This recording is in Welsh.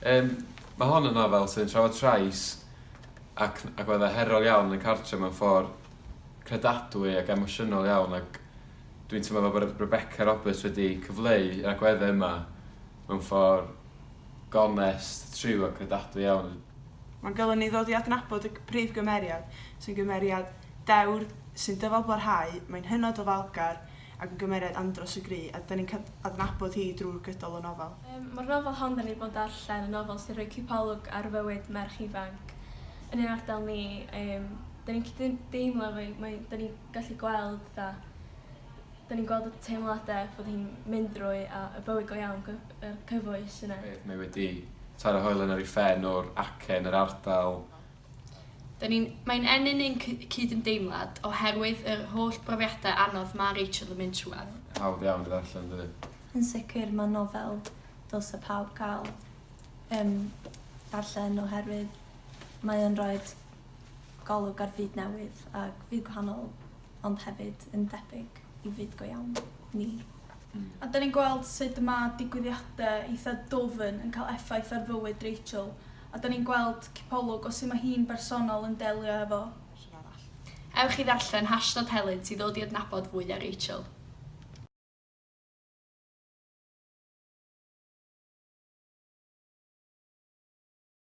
Yym, mae hon yn nofel sy'n trafod trais ac, ac mae fe herol iawn yn y cartre mewn ffordd credadwy ac emosiynol iawn ac dwi'n teimlo fel bod Rebecca Roberts wedi cyfleu yr agweddau yma Mewn ffordd gonest, tryw a credadwy iawn. Mae'n golygu ni ddod i adnabod y prif gymeriad, sy'n gymeriad dewr, sy'n dyfalbarhau, mae'n hynod o falgar ac yn gymeriad andros o gry a 'da ni'n cael adnabod hi drwy'r gydol y nofel. Mae'r nofel hon 'da ni 'di bod yn darllen yn nofel sy'n rhoi cipolwg ar fywyd merch ifanc yn ein ardal ni, yym 'da ni'n gallu deimlo efo hi, mae... 'da ni'n gallu gweld fatha Dan ni'n gweld y teimladau bod hi'n mynd drwy a y bywyd go iawn, cy- yr cyfoes yna. Bydd, mae wedi taro hoelen ar ei phen o'r acen, yr ardal. Dan ni'n, mae'n ennyn ein cy- cydymdeimlad oherwydd yr holl brofiadau anodd mae Rachel yn mynd trwyadd. Hawdd iawn i ddarllen, yn dydi? Yn sicr, mae nofel dylse pawb gael, yym, darllen oherwydd mae o'n rhoid golwg ar fyd newydd ac fyd gwahanol ond hefyd yn debyg i fyd go iawn ni. A 'da ni'n gweld sut mae digwyddiadau eitha' dwfn yn cael effaith ar fywyd Rachel a 'da ni'n gweld cipolwg o sut mae hi'n bersonol yn delio efo rhywun arall. Ewch i ddarllen Hashnod Helynt i ddod i adnabod fwy ar Rachel.